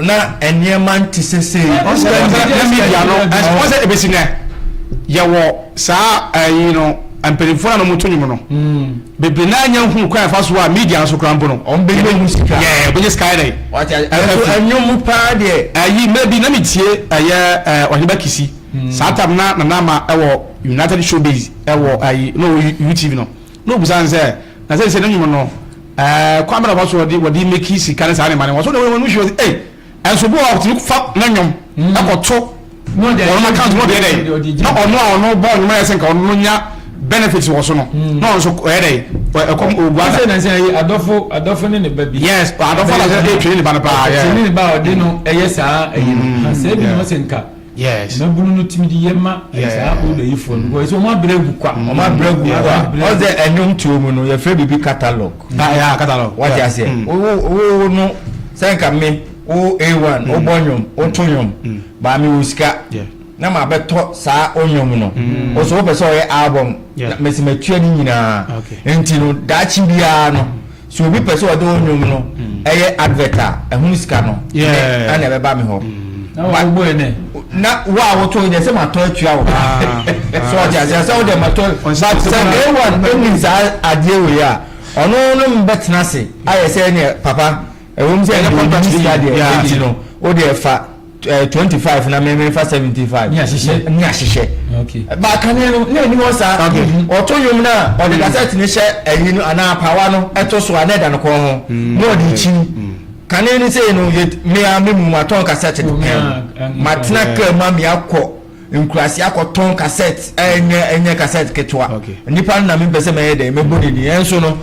Na nneɛma nte sɛ sei. Ɔsɛ ɛyɛ sɛ na media no ɛsɛ ɔsɛ ebesi nɛ yɛwɔ saa ɛyi no mpanyinfoɔ na na wɔn to nnwom no bebree na anya nhunu kwan ɛfa so a media nso kora mpo no wɔn bɛ nyɛ mu sika yɛɛ bɛ nyɛ sika yɛ dɛ ɛso ɛnwom mu paa deɛ ɛyi mɛ bi na mi tie ɛyɛ ɛɛ ɔheba kisi saa tam na nana ama ɛwɔ united showbiz ɛwɔ ɛyi na ɔwɔ utv no. Na obisa no sɛ, Na seesei no nwom no, eh, kwan bɛn na wɔfa so wɔde, wɔde meki sika ne saa nneɛma no? Wɔso ne wɔn mu hwee ɔse, Ei! Ɛnso bo a wɔtumi fa no nwom kɔ to wɔnom account no deɛ dɛn? Na ɔno a ɔno bɔ nwom no ayɛ sɛ nka ɔno no nya benefits wɔ so no, na ɔno nso ɔyɛ dɛn? Ɔ, ɛkɔm ɔgua da. Afei na sɛ ɛyɛ adɔfo, adɔfo ne ne ba bi. Yes, adɔfo na sɛ ɛretwe ne ba no paa, yeah. Ɛtwe ne ba a ɔde no yɛ saa ɛyi no. Ha, sɛ ebi na ɔse nka. Yes. Mmabunu no tumi de yɛ ma eh, saa old ayifoɔ no because ɛsɛ wɔn abrɛ agu kwa wɔn abrɛ agu Yeah, wɔn wa- abrɛ agu. ɔsɛ ɛnwom tuo mu no yɛfrɛ biribi catalog Ah, yeah, catalog. wate Yeah. aseɛ Mm. wo wo- wo no sɛ nka me wo a1 wobɔ nnwom woto nnwom baa mewɔ sika Yeah. na mabɛtɔ saa onnwom no wo so wopɛ sɛ ɔyɛ album Yeah. na mese matua ne nyinaa Okay. nti no daakye biara no Sɛ obi pɛ sɛ ɔde wo nnwom no yɛ advert a, ɛho sika no, me na ɛbɛba me hɔ. Na wo a wotɔ yi deɛ sɛ matɔ atua wo ka. So ɔte aseɛ sɛ wode matɔ. But sɛ A1 ɛnim saa adeɛ wei a, ɔno ne mbɛtena ase ayɛ sɛ ɛneɛ papa, ɛwom sɛ ɛnyɛ contract bi sika deɛ, ɛti no, wodeɛ fa. eh, twenty five na mɛmɛ nfa seventy five ní ahyehyɛ ní ahyehyɛ baakane no ní ɛni hɔ saa ɔtɔ yom na ɔde kasɛti ni hyɛ ɛyi no anaa apawa no ɛto so a na ɛda no kɔn ho na ɔde ekyi kane ni sɛ no yɛ mmea mi mu ma tɔn kasɛti no ma tena kaa mu amia kɔ. nkuraase akɔtɔn kasɛt ɛnyɛ ɛnyɛ kasɛt ketewa nipa no na mi mpɛsɛ mɛyɛ dɛ mɛbɔ ne ni ɛnso no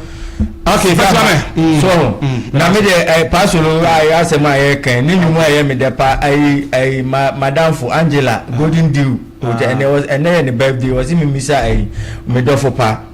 afei fɛsɛ mɛ mm. so mm. na mi de ɛ eh, paasolo ayɛ asɛm a yɛ kɛn ne nyumu a yɛ mi dɛ pa ayi ayi ma madamfo angela golden deal ɛnɛ ɛnɛ yɛ ne birthday wɔsi mi misa ayi mi dɔfo pa.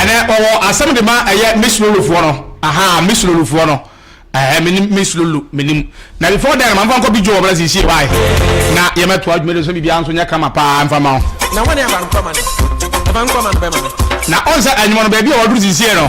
ɛnɛ ɔwɔ asɛm de ma ɛyɛ mislolufoɔ no aha mislolufoɔ no ɛɛ menim mislolu menim na before then ma nfa nkɔ bi dwo wɔ bɛrɛ si sie wae na yɛmɛ to adwuma de nso biribiara nso nyɛ kama paa nfa ma o na wɔn yɛ abankɔma no abankɔma no bɛma no na ɔn sɛ anyuma no baabi a wɔduru si sie no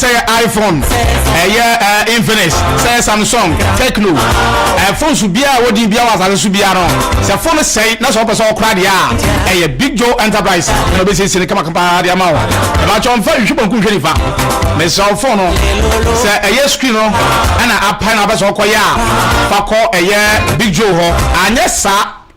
sɛ yɛ iphone ɛyɛ eh, infinix sɛ yɛ samsung techno eh, phone so biara a wɔdin biara wɔ asase so biara no sɛ phone sɛe na sɛ wɔpɛ sɛ wɔkora deɛ a ɛyɛ big joe enterprise na wɔbɛsiesie no kamakapaa de ama wo ɛbakyɛ ɔmfa nhwɛ banku nhwɛ nifa mesɛ wo phone no sɛ ɛyɛ screen no ɛna apae na wobɛ sɛ wɔkɔyɛ a fa kɔ ɛyɛ big joe hɔ anyɛ saa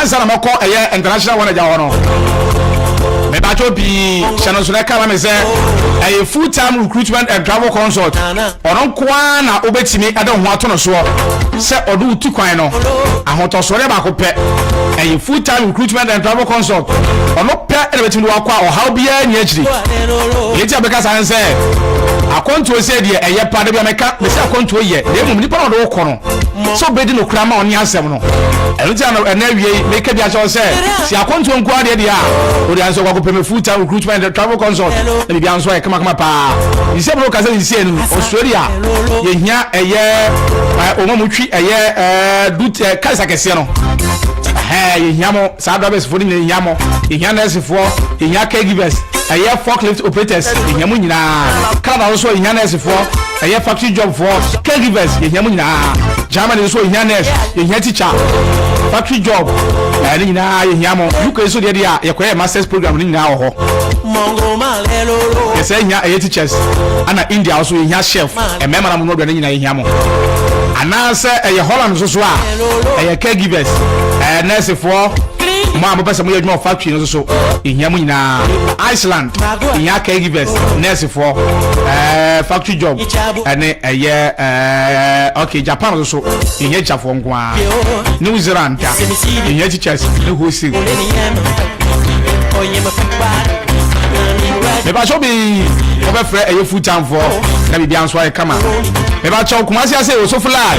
Ansa na mɛkɔ ɛyɛ international wɔn agya hɔ no mebadwo pii hyɛ no nso na ɛka ma me sɛ ɛyɛ full time recruitment and travel consult ɔno nkoa na wobɛtumi ɛde ho ato no soɔ sɛ ɔde wo tu kwan no ahotɔsoɔdeɛ baako pɛ ɛyɛ full time recruitment and travel consult ɔno pɛ ɛna bɛtumi de wakɔ a ɔhaw biara nni akyiri yɛti a bɛka saa ne sɛ akɔntuo sɛ deɛ ɛyɛ pa da bi a mɛka mɛsɛ akɔntuo yɛ na mmom nipa na ɔde wo kɔ no sɛ ɔbɛdi no kora ma ɔne asɛm no ɛno nti ano ɛna awiei meka bi akyɛw sɛ si akɔntoɔ nko adeɛ deɛ a wode ansɛ wakɔ pɛmɛ full time recruitment the travel consult na biribia nso ayɛ kamakama paa nsɛm no kasa nsi anim australia yɛhia ɛyɛ ɔma mu twi ɛyɛ dut kasa kɛseɛ no yɛhia mo Saa drivers foɔ no nyinaa yɛhia mo, yɛhia nurse foɔ, yɛhia care givers, ɛyɛ forklift operators, yɛhia mo nyinaa. Canada nso yɛhia nurse foɔ, ɛyɛ factory job foɔ, care givers, yɛhia mo nyinaa. Germany nso yɛhia nurse, yɛhia teacher, factory job, ɛɛ ne nyinaa yɛhia mo. UK nso deɛ deɛ a yɛkɔyɛ masters program no nyinaa wɔ hɔ. Yɛsɛ hia ɛyɛ teachers, ɛna India nso yɛhia chef, mmarima na mo no aduane nyinaa yɛhia mo. Anaasɛ ɛyɛ Holland nso so a. ɛyɛ caregivers ɛyɛ nursefoɔ mo a mopɛ sɛ moyɛ adwuma wɔ factory no so so ɛhia mo nyinaa iceland ɛhia caregivers nursefoɔ ɛɛ factory job ɛne ɛyɛ ɛɛ ok japan so so ɛhia tikyafoɔ nko ara new zealand ɛhia teachers ne wholesale mebakyɛw bi wɔbɛfrɛ ɛyɛ full time foɔ na biribia nso ayɛ kama mebakyɛw kumase ase wɔ so fly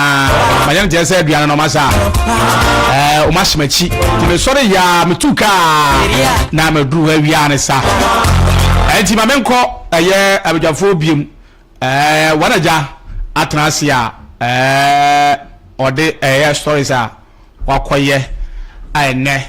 manyɛ no te sɛ aduane no ɔmasa a ɔma hyɛ m'akyi nti mesɔre yɛ a metu kaa na maduru hɔ awia ne sa ɛnti ma menkɔ ɛyɛ abadwafoɔ biom wɔn agya atena ase a ɔde ɛyɛ stories a wakɔyɛ a ɛnɛ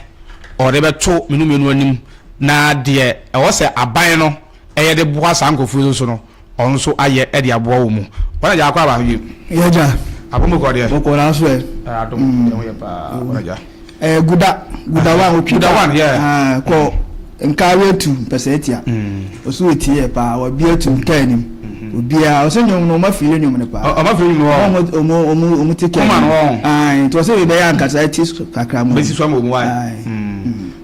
ɔde bɛto menu mmienu anim na deɛ ɛwɔ sɛ aban no Yɛ de boa saa nkurɔfoɔ yi nso no, ɔno nso ayɛ de aboa wɔn mu. Wɔn agya akɔ aba? Yɛn agya. Apɔmuden kɔɔ deɛ? Ɔkɔɔ nanso ɛ. Ɛɛ adom yɛn ho yɛ paa wɔn agya. Ɛɛ guda guda one ɔtwi guda one yɛ. Ɛɛ kɔ nkaare atu mpɛsɛ atia. Ɔso etie yɛ paa wɔbi atu nkaa anim. Obiara ɔsɛ nyɔm no ɔma firi nyɔm no paa. Ɔma firi nyɔm no. Ɔmo ɔmo ɔmo ɔmo te kɛn. Ɔma no wɔn. Ɛɛ nti ɔsɛ yɛ bɛyɛ ankasa ɛti kakra mo. Bɛsi so ama ɔmo ayɛ. Ɛɛ.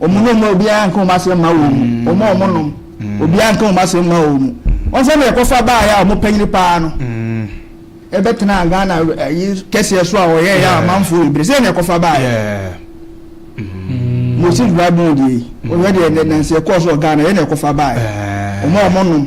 Wɔn nom a obiara nka wɔn asɛm mma wɔn mu, wɔn a wɔnom, obiara nka wɔn asɛm mma wɔn mu. Wɔn sɛnea ɛkɔfa baeɛ a wɔpanyini paa no bɛtenaa Ghana ayi kɛseɛ so a wɔyɛeɛ a amanfoɔ bebree sɛdeɛ na ɛkɔfa baeɛ. Moses Bible mu deɛ yi, wɔyɛ deɛ nansi ɛkɔɔ so wɔ Ghana yɛ na ɛkɔfa baeɛ. Wɔn a wɔnom.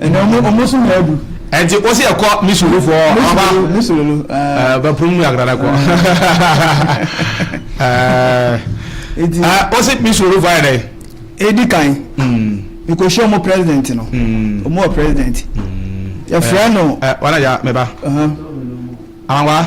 Ɛnna ɔmo ɔmo so nyɛ adu. Ɛnti wosi ɛkɔ misulu fɔ ɔba. Misulu no. Ɛɛ pum mu yagrada kɔ. Ɛɛ wosi misulu fɔ ayɛ dɛ. Edi kan. Miko hyɛ ɔmo president no. Ɔmo wɔ president. Yɛfrɛ no. Wana ya mɛba. Awa.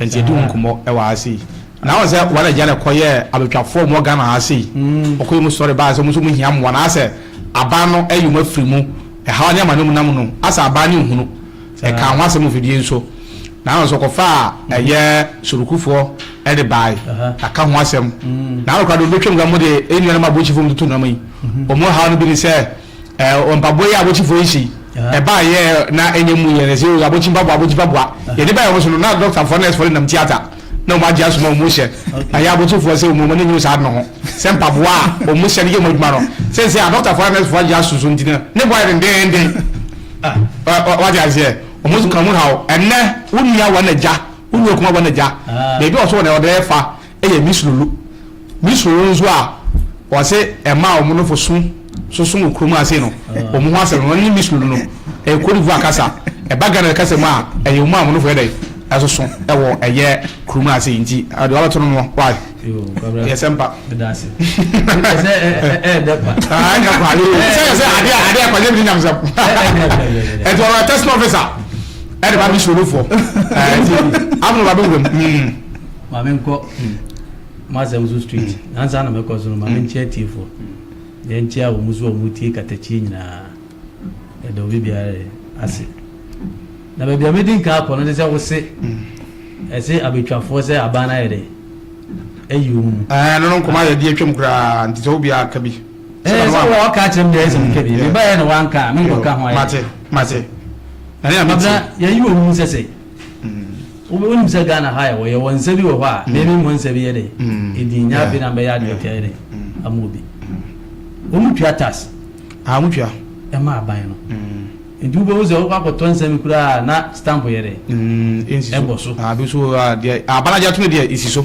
Ntsi yɛdze wo nkɔmbɔ wɔ ha sei. Na wɔn sɛ wɔn agya na kɔ yɛ abɛtwafoɔ wɔn Ghana ha sei ɔkɔ yɛ mu sɔre baa sɛ wɔn nso wɔn hia mmoa na asɛ aban no ɛyɛ wɔn afiri mu ɛhaw ne amane wɔn nam no asɛ aban ne nhunu ɛka ho asɛm ofidie nso na wɔn nso ɔkɔfa a ɛyɛ sorukufoɔ ɛde baae na ka ho asɛm na wɔn kora de wɔn bɛtwam kora wɔn de nnua no ma abɔkyifoɔ wɔn tutu nam yi wɔn haw no bi ne sɛ Ɛɛ mpaboa yi a abokyifo yi hyɛ yi, ɛbaa yɛ na ɛnyɛ mu yɛ na ɛsɛ yɛ abokyi mpaboa abokyi mpaboa. Yɛde baa wɔn so no na dɔktafoɔ nɛɛsfoɔ de nam tiata na wɔn agye asom a wɔn hyɛ. Ɛyɛ abokyifoɔ sɛ wɔn ani nwu saa ade no ho sɛ mpaboa a wɔn hyɛ no yɛ wɔn adwuma no. Seesei a dɔktafoɔ ne nɛɛsfoɔ agye aso so nti no ne bo ayɛ dendeenden. Wate aseɛ? Wɔn nso ka mu haw. Ɛnnɛ wo nua wɔ n'agya, wo nua kuma wɔ n'agya. Baabi a ɔsɔ wɔ no ɔde refa. yɛ Mislulu. Mislulu nso a wɔse ɛmaa wɔn nofo so soso wɔ kurom ase no, wɔn ho asɛm no, wɔn ne Mislulu no, ɛyɛ Cote d'Ivoire kasa. Ɛba Ghana kasa mu a, ɛyɛ wɔn a wɔn nofo yɛ dɛn? Ɛsoso wɔ ɛyɛ kurom ase nti. Deɛ wabɛto no no, why? Yɛ sɛ mpa. Ɛsɛ ɛɛdɛ pa. Ah, ɛnyɛ pa. Sɛ yɛ sɛ adeɛ adeɛ pa, yɛ bi nyam sɛm. Ɛti wɔn atɛsɛ ofisa, ɛde ba Mislulu fo. Ɛti afɔ na wɔabɛwura mu. ma menkɔ m'asɛm so street nansa na mɛkɔ so no ma menkyia atiefoɔ deɛ nkyia wɔ mu so wɔ mu tie katakyie nyinaa yɛda obi biara ase na baabi a mɛdi nka akɔ no ne sɛ wo se ɛse abɛtwafoɔ sɛ aban no ayɛ dɛ ayi wɔ mu mu ɛno no nkɔma yɛde atwam koraa nti sɛ wobiaa ka bi sɛ wɔ ɔka kyerɛ mdeɛ sɛ mka bi mebaɛ na wanka a menkɔka ho ayɛ mate mate yɛyi wɔ mu sɛ sɛ Wo wonim sɛ Ghana ha yɛwɔ yɛwɔ nsa bi wɔ hɔ a meme mmɔ nsa bi yɛ dɛ ɛdin nyɛ afei na mbɛyɛ advert ayɛ dɛ ama obi wɔn mu tua tax ah mo tua ɛma aban no nti wobɛhu sɛ wokɔ akɔtɔ nsa bi koraa a na stamp yɛ dɛ ɛbɔ so ah bi so wɔ hɔ a deɛ aban agye atom deɛ ɛsi so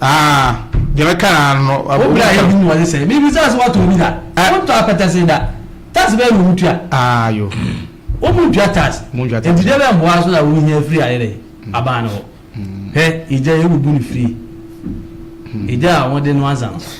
Ah, deɛ mɛka ara no. Wo bra yɛ bi mu wɔn sɛ, mi bi sɛ ase wɔtɔ bi da. Eh. Wɔn tɔ apɛtɛse da. Tax bɛyɛ na wɔn tua. Ah yo. Wɔn mu ntua tax. Wɔn ntua tax. Nti deɛ bɛ mboa so na wɔn hia firi ayɛ dɛ. Mm. Abaa no hɔ. Mm. Hɛ, egya yɛ bubu ne firi. Mm. Egya a wɔn de no ansa no.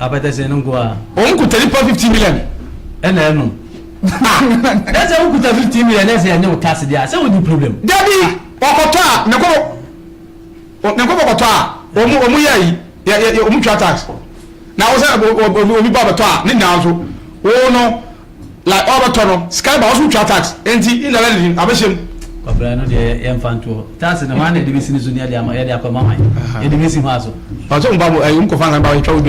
Apɛtɛsɛn no nko ara. Wɔn kuta nipa fifty million. Ɛna ɛnom. Ah! Na sɛ wokuta fifty million na sɛ ɛnyɛ wo tax deɛ a, sɛ wonni problem? Dabi! Ɔkɔtɔ a, ne nkɔfo, ne nkɔfo kɔtɔ a, wɔn, wɔn yɛ ayi, yɛ, yɛ, yɛ, wɔn tua tax. Na wo sɛ, obi, obi ba bɛtɔ a, ne nyinaa nso, wo no, Like ɔrebɛtɔ no sika ba ɔso twa tax enti indirectly no abɛhyɛ mu. Kɔfrɛ no deɛ yɛ nfa nto hɔ. Tax no hwan na yɛde bɛsi no so ne yɛde ama yɛde akɔ ma hwan? Yɛde bɛsi hwan so? Ɔsɛ ɔmo ba mo ɛyi ɔmo kɔfa nkan ba bɛtwa wo dwa.